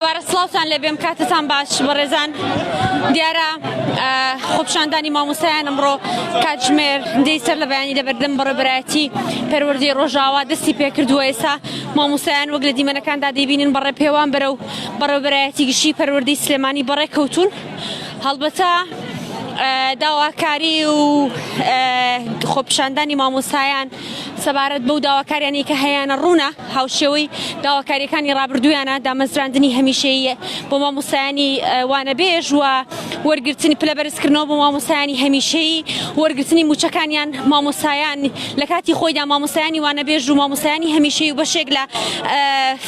دووبارە سڵاوتان لێبێم کاتتان باش بەڕێزان دیارە خۆپشاندانی مامۆستایان ئەمڕۆ کاتژمێر دەی سەر لە بەیانی لە بەردەم بەڕێبەرایەتی پەروەردەی ڕۆژاوا دەستی پێکردووە ئێسا مامۆستایان وەک لە دیمەنەکاندا دەیبینن بەڕێ پێوان بەرە و بەڕێبەرایەتی گشتی پەروەردەی سلێمانی بەڕێ کەوتون هەڵبەتە داواکاری و خۆپشاندانی مامۆستایان سەبارەت بەو داواکاریانەی کە هەیانە ڕوونە هاوشێوەی داواکاریەکانی ڕابردوویانە دامەزراندنی هەمیشەییە بۆ مامۆستایانی وانەبێژ و وەرگرتنی پلە بەرزکردنەوە بۆ مامۆستایانی هەمیشەیی وەرگرتنی موچەکانیان مامۆستایان لە کاتی خۆیدا مامۆستایانی وانەبێژ و مامۆستایانی هەمیشەی و بەشێک لە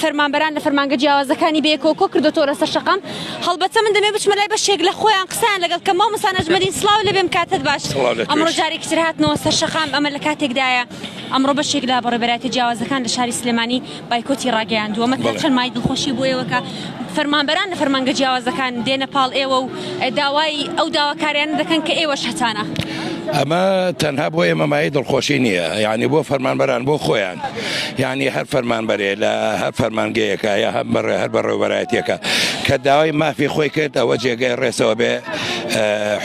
فەرمانبەران لە فەرمانگە جیاوازەکانی بەیەکەوە کۆ کردۆتەوە لەسەر شەقام هەڵبەتە من دەمێ بچمە لای بەشێک لە خۆیان قسەیان لەگەڵ کە مامۆستا نەجمەدین سڵاو لێ بێم کاتت باش سڵاو لەتیش. ئەمڕۆ جارێکی تر هاتنەوە سەر شەقام ئەمە لە کاتێکدایە ئەمڕۆ بەشێک لە بەڕێبەرایەتە جیاوازەکان لە شاری سلێمانی بایکۆتی ڕاگەیاندووە مە تا بەڵێ. چەند مای دڵخۆشی بۆ ئێوە کە فەرمانبەران لە فەرمانگە جیاوازەکان دێنە پاڵ ئێوە و داوای ئەو داواکاریانە دەکەن کە ئێوەش هەتانە ئەمە تەنها بۆ ئێمە مای دڵخۆشی نییە یعنی بۆ فەرمانبەران بۆ خۆیان یعنی هەر فەرمان بەرێ لە هەر فەرمانگەیەەکە یا هەم بەڕێ هەر بەڕێوبەرایەتەکە کە داوای مافی خۆی کرد ئەوە جێگای ڕێسەوە بێ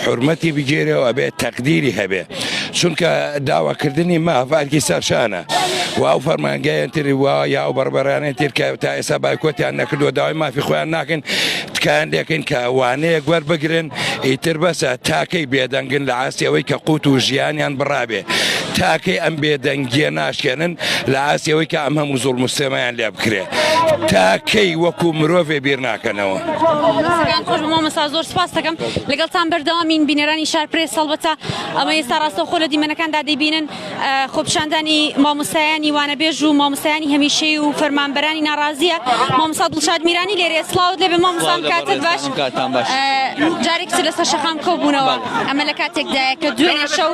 حرمەتی بگێرەوە بێ تەقدیری هەبێ چونکە داواکردنی مافارکی سەرشانە و ئەو فەرمانگەیان تری وا یا ئەو بەڕبەرانێن ترکە تا ئێستا بایکۆتیان نەکردو داوای مافی خۆیان ناکەن تکایان دەکەن کە وانەیە گوەر بگرن ئیتر بەسە تاکەی بێدەنگن لە ئاستی ئەوەی کە قووت و ژیانیان بڕابێ تاکەی ئەم بێدەنگیە ناشکێنن لە ئاستی ئەوەی کە ئەم هەموو زۆڵ مستێمایان لێ بکرێ تاکەی وەکو مرۆڤێ بیر ناکەنەوە مامەسا زۆر سپاستەکەم لەگەڵتان بەردەوامین بینەرانی شار پرێس هەڵبەتە ئەمە ئێستا ڕاستەوخۆ لە دیمەنەکاندا دەبینن خۆپیشاندانی مامۆستایانی وانەبێژ و مامۆستایانی هەمیشەی و فەرمانبەرانی ناڕازیە مامۆسا دڵشاد میرانی لێرێ سڵاوت لێبێ مامۆسام کاتە باش جارێک تر لەسەر شەقام کۆبوونەوە ئەمە لە کاتێکدایە کە دوێنێ شەو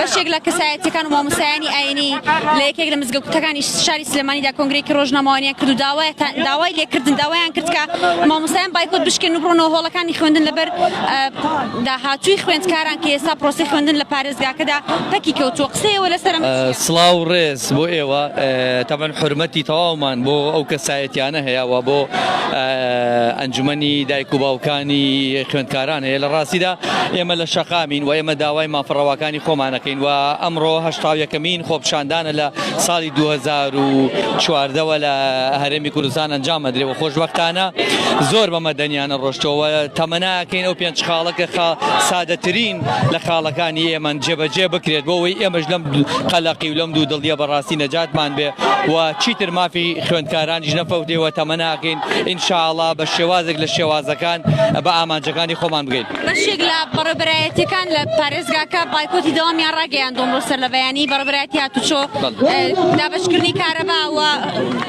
بەشێک لە کەسایەتەکان و مامۆسایانی ئاینی لە یەکێک لە مزگەوتەکانی شاری سلێمانیدا کۆنگرێکی ڕۆژنامەوانیان کرد و داوای داوای لێکردن داوایان کرد کە مامۆسایان بایکۆت بشکێن و بڕۆنەوە هۆڵەکانی خوێندن لەبەر داهاتووی خوێندکاران کە ئێستا پرۆسی خوێندن لە پارێز دەزگاکەدا پەکی کەوتووە قسەیەوە لەسەر ئەمە چییە؟ سڵاو ڕێز بۆ ئێوە تەبەن حرمەتی تەواومان بۆ ئەو کەسایەتیانە هەیە و بۆ ئەنجومنی دایک و باوکانی خوێندکاران هەیە لە ڕاستیدا ئێمە لە شەقامین و ئێمە داوای مافڕەواکانی خۆمانەکەین و ئەمڕۆ هەشتا یەکەمین خۆپشاندانە لە ساڵی 2014ەوە لە هەرێمی کوردستان ئەنجام مەدرێ و خۆشببختانە زۆر بە مەدەنیانە ڕۆشتەوە تەمەناکەین ئەو پێنج خاڵەکە سادەترین لە خاڵەکانی ئێمەن جێبەجێ بکرێت بۆ ئەوەی ئێمەش لەم قەلەقی و لەم دوو دڵیە بەڕاستی نەجاتمان بێ و چیتر مافی خوێندکارانیش نەفەوتێ و تەمەناکەین ئینشاءڵا بە شێوازێک لە شێوازەکان بە ئامانجەکانی خۆمان بگەین. بەشێک لە بەڕێوبەرایەتیەکان لە پارێزگاکە بایکۆتی دەوامیان ڕاگەیاندووە ئەمڕۆ سەر لە بەیانی بەڕێوبەرایەتی هاتوچۆ دابەشکردنی کارەبا و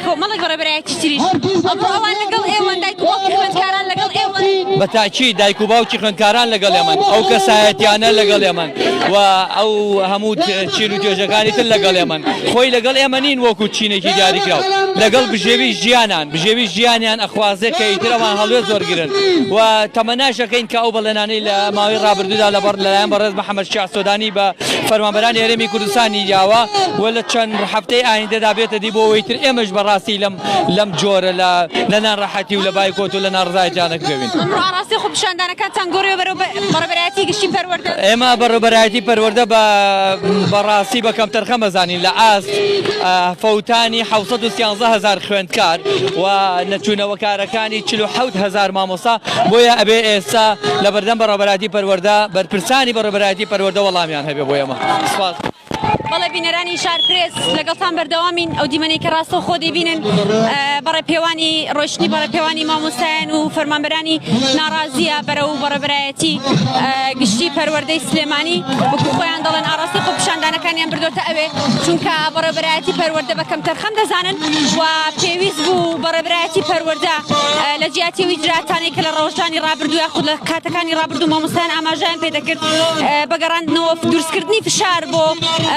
کۆمەڵێک ڕێبەرایەتی تریش ئەمڕۆ ئەوان لەگەڵ ئێوەن، دایک و باوکی خوێندکاران لەگەڵ ئێوەن. بە تاکید دایک و باوکی خوێندکاران لەگەڵ ئێمەن، ئەو کەسایەتییانە لەگەڵ ئێمەن و ئەو هەموو چین و توێژەکانی تر لەگەڵ ئێمەن، خۆی لەگەڵ ئێمە نین وەکوو چینێکی دیاریکراو، لەگەڵ بژێوی ژیانان، بژێوی ژیانیان ئەخوازێ کە ئیتر ئەوان هەڵوێست وەرگرن و تەمەناش ئەکەین کە ئەو بەڵێنانەی لە ماوەی ڕابردوودا لەبەڕ لەلایەن بەڕێز محەمەد شیاع سۆدانی بە فەرمانبەرانی هەرێمی کوردستانی داوە و لە چەند هەفتەی ئایندەدا بێتە دی بۆ ئەوەی تر ئێمەش بە ڕاستی لەم لەم جۆرە لە لە ناڕەحەتی و لە بایکۆت و لە ناڕزایەتیا نەکرێوین. ئەمڕۆ ئاڕاستەی خۆپیشاندانەکانتان گۆڕیوە بەرەو بەڕێوەبەرایەتی گشتی پەروەردە؟ ئێمە بەڕێوەبەرایەتی پەروەردە بە بە ڕاستی بە کەمتەرخەم ئەزانین لە ئاست فەوتانی حەوت سەد و سیانزە هەزار خوێندکار و نەچوونەوەکارەکانی چل و حەوت هەزار مامۆستا، بۆیە ئەبێ ئێستا لەبەردەم بەڕێوەبەرایەتی پەروەردە بەرپرسانی بەڕێوەبەرایەتی پەروەردە وەڵامیان هەبێ بۆ ئێمە. سپاس. بەڵێ بینەرانی شار پرێس لەگەڵتان بەردەوامین ئەو دیمەنەی کە ڕاستە خۆ دەبینن بەڕێ پێوانی ڕۆشتنی بەڕێ پێوانی مامۆستایان و فەرمانبەرانی ناڕازیە بەرە و بەڕێبرایەتی گشتی پەروەردەی سلێمانی وەکو خۆیان دەڵێن ئاراستی خۆ پیشاندانەکانیان بردۆتە ئەوێ چونکە بەڕێبرایەتی پەروەردە بە کەم تەرخەم دەزانن و پێویست بوو بەڕێبرایەتی پەروەەردە لە جیاتی ویدراتانێک کە لە ڕەوشانی ڕابردووە خود لە کات کانی ڕابردوو مامۆستایان ئاماژەیان پێ دەکرد بە گەڕاندنەوە دروستکردنی فشار بۆ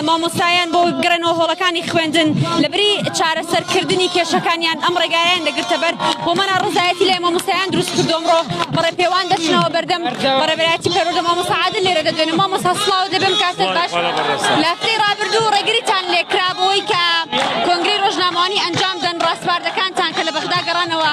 مامۆستایان بۆ گەڕێنەوە هۆڵەکانی خوێندن لە بری چارەسەرکردنی کێشەکانیان ئەم ڕێگایان دەگرتە بەر بۆ مەنا ڕزایەتی لای مامۆستایان دروست کردۆمڕۆ بەڕێ پێوان دەچنەوە بەردەم بەڕێبەتی پەرۆدە مامۆساعاد لێرە دەدوێنە مامۆسا سڵاو دەبم کاسە باش لەفتی ڕابردوو ڕێگریتان لێکرابەوەی کە کۆنگری ڕۆژنامەوانی ئەنجام دەن ڕاسپاردەکانتان کە لە بەغدا گەڕانەوە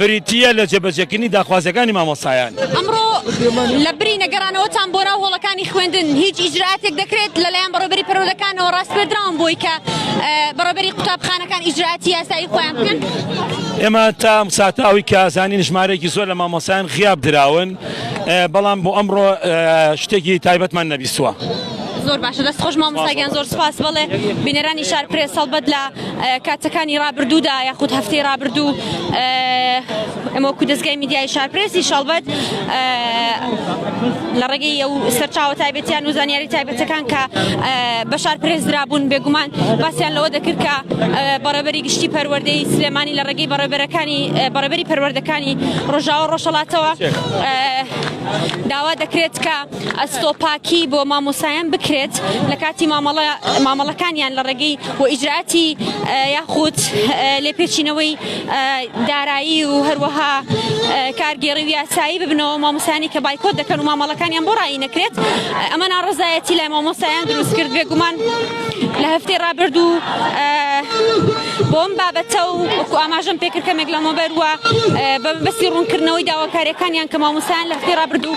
بریتییە لە جێبەجێکردنی داخوازییەکانی مامۆستایان. ئەمڕۆ لە بری نەگەڕانەوەتان بۆ ناو هۆڵەکانی خوێندن هیچ ئیجرائاتێک دەکرێت لەلایەن بەڕێوەبەری پەروەردەکانەوە ڕاسپێردراون بۆی کە بەڕێوەبەری قوتابخانەکان ئیجرائاتی یاسایی خۆیان بکەن؟ ئێمە تا ئەم ساتە ئەوەی کە زانین ژمارەیەکی زۆر لە مامۆستایان غیاب دراون، بەڵام بۆ ئەمڕۆ شتێکی تایبەتمان نەبیستووە. زۆر باشە دەست خۆش مامۆستا گیان زۆر سوپاس بەڵێ بینەرانی شار پرێس هەڵبەت لە کاتەکانی رابردوودا یاخود هەفتەی رابردوو ئەمەکو دەستگای میدیای شارپرێسی شەڵبەت لە ڕێگەی ئەو سەرچاوە تایبەتیان و زانیاری تایبەتەکان کە بە شارپرێز درابوون بێگومان باسییان لەوە دەکرد کە بەڕێبەری گشتی پەروەردەی سلێمانی لە ڕێگەی بەڕێبەرەکانی بەڕێبەری پەروەردەکانی ڕۆژاوە ڕۆژەڵاتەوە داوا دەکرێت کە ئەستۆپاکی بۆ مامۆستایان بکرێت لەکاتی مامەڵە مامەڵەکانیان لە ڕێگەی و ئیجراتی یاخود لێپێچینەوەی دارایی و هەروەها کارگێڕی و یاسایی ببنەوە مامۆستایانی کە بایکۆت دەکەن و مامەڵەکانیان بۆ ڕایی نەکرێت ئەمە ناڕزایەتی لای مامۆستایان دروست کرد بێگومان لە هەفتەی ڕابردوو بۆم بابەتە و وەکو ئاماژەم پێکرد کەمێک لە مۆبەر وە بە بەسی ڕوونکردنەوەی داواکاریەکانیان کە مامۆسان لە هەفتەی ڕابردوو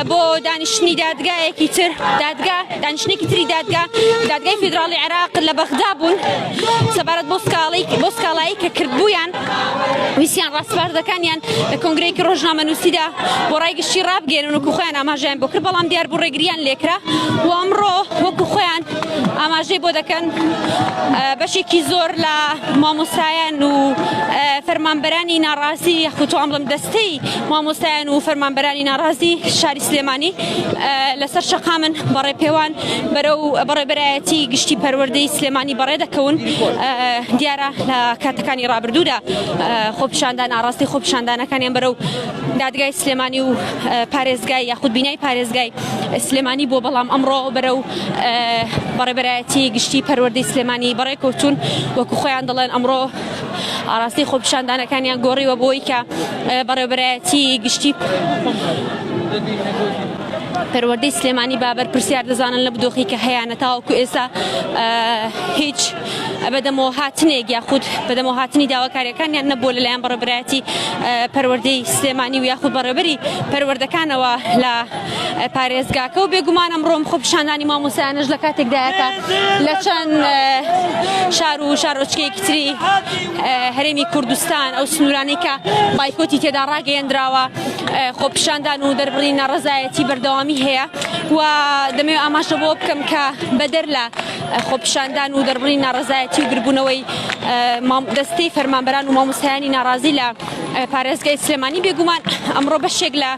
بۆ دانیشتنی دادگایەکی تر دادگا دانیشتێکی تری دادگا دادگای فیدراڵی عێراق لە بەغدا بوون سەبارەت بۆ سکاڵی بۆ سکاڵایی کە کردبوویان ویستیان ڕاسپاردەکانیان لە کۆنگرەیەکی ڕۆژنامەنووسیدا بۆ ڕای گشتی ڕابگەێنن و کوخۆیان ئاماژیان بۆ کرد بەڵام دیار بوو ڕێگریان لێکرا و ئەمڕۆ وەکو خۆیان ئاماژەی بۆ دەکەن بەشێکی زۆر لە مامۆستایان و فەرمانبەرانی ناڕازی یخوتوان بڵم دەستەی مامۆستایان و فەرمانبەرانی ناڕازی شاری سلێمانی لەسەر شەقامن بەڕێ پێوان بەرەو بەڕێبەرایەتی گشتی پەروەردەی سلێمانی بەڕێ دەکەون دیارە لە کاتەکانی ڕابردوودا خۆپشاندان ئاڕاستی خۆپشاندانەکانیان بەرەو دادگای سلێمانی و پارێزگای یاخود بینای پارێزگای سلێمانی بۆ بەڵام ئەمڕۆ بەرەو بەڕێبەرایەتی گشتی پەروەردەی سلێمانی بەڕێ کەوتون وەکو خۆیان دەڵێن ئەمڕۆ ئاڕاستی خۆپشاندانەکانیان گۆڕیوە بۆی کە بەڕێبەرایەتی گشتی پەروەردەی سلێمانی با بەرپرسیار دەزانن لەم دۆخی کە هەیانە تاوەکو ئێستا هیچ بەدەمەوە هاتنێک یاخود بەدەمەوە هاتنی داواکاریەکانیان نەبووە لەلایەن بەڕێبرایەتی پەروەردەی سلێمانی و یاخود بەڕێبەری پەروەردەکانەوە لە پارێزگاکە و بێگومان ئەمڕۆم خۆ پیشاندانی مامۆسایانش لە کاتێکدایەکە لە چەند شار و شارۆچکەیەکی تری هەرێمی کوردستان ئەو سنوورانەی کە بایکۆتی تێدا ڕاگەیەندراوە خۆپیشاندان و دەربڕی ناڕزایەتی بەردەوامی هەیە و دەمەوێت ئاماژە بۆ بکەم کە بەدەر لە خۆپیشاندان و دەربڕی ناڕزایەتی و گربوونەوەی دەستەی فەرمانبەران و مامۆسایانی ناڕازی لە پارێزگای سلێمانی بێگومان ئەمڕۆ بەشێک لە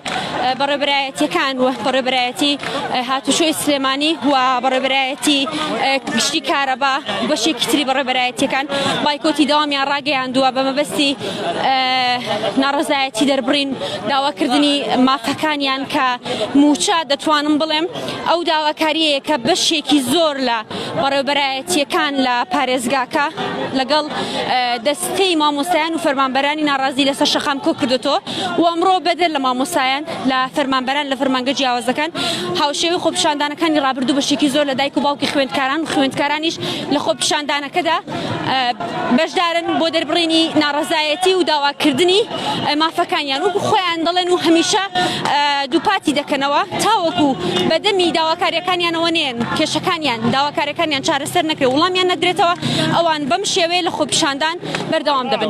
بەڕێبرایەتەکان و بەڕێبرایەتی هاتوشۆی سلێمانی و بەڕێبرایەتی گشتی کارەبا بەشێکی تری بەڕێبرایەتەکان بایکۆتی داوامیان ڕاگەیاندووە بە مەبەستی ناڕەزایەتی دەربڕین داواکردنی مافەکانیان کە موچە دەتوانم بڵێم ئەو داواکاریەیە کە بەشێکی زۆر لە بەڕێوبەرایەتیەکان لە پارێزگاکە لەگەڵ دەستەی مامۆستایان و فەرمانبەرانی ناڕازی لەسەر شەقام کۆ کردوەوە و ئەمڕۆ بەدەر لە مامۆسایان لە فەرمانبەران لە فەرمانگە جیاوازەکان هاوشێوی خۆپیشاندانەکانی ڕابردوو بەشێکی زۆر لە دایک و باوکی خوێندکاران و خوێندکارانیش لە خۆپیشاندانەکەدا بەشدارن بۆ دەربڕینی ناڕەزایەتی و داواکردنی مافەکانیان وەکو خۆیان دەڵێن و هەمیشە دووپاتی دەکەنەوە تاوەکو بەدەمی داواکاریەکانیانەوە نێن کێشەکانیان داواکارەکانیان چارەسەر نەکرێ وڵامیان نەدرێتەوە ئەوان بەم شێوەیە لە خۆپیشاندان بەردەوام دەبن.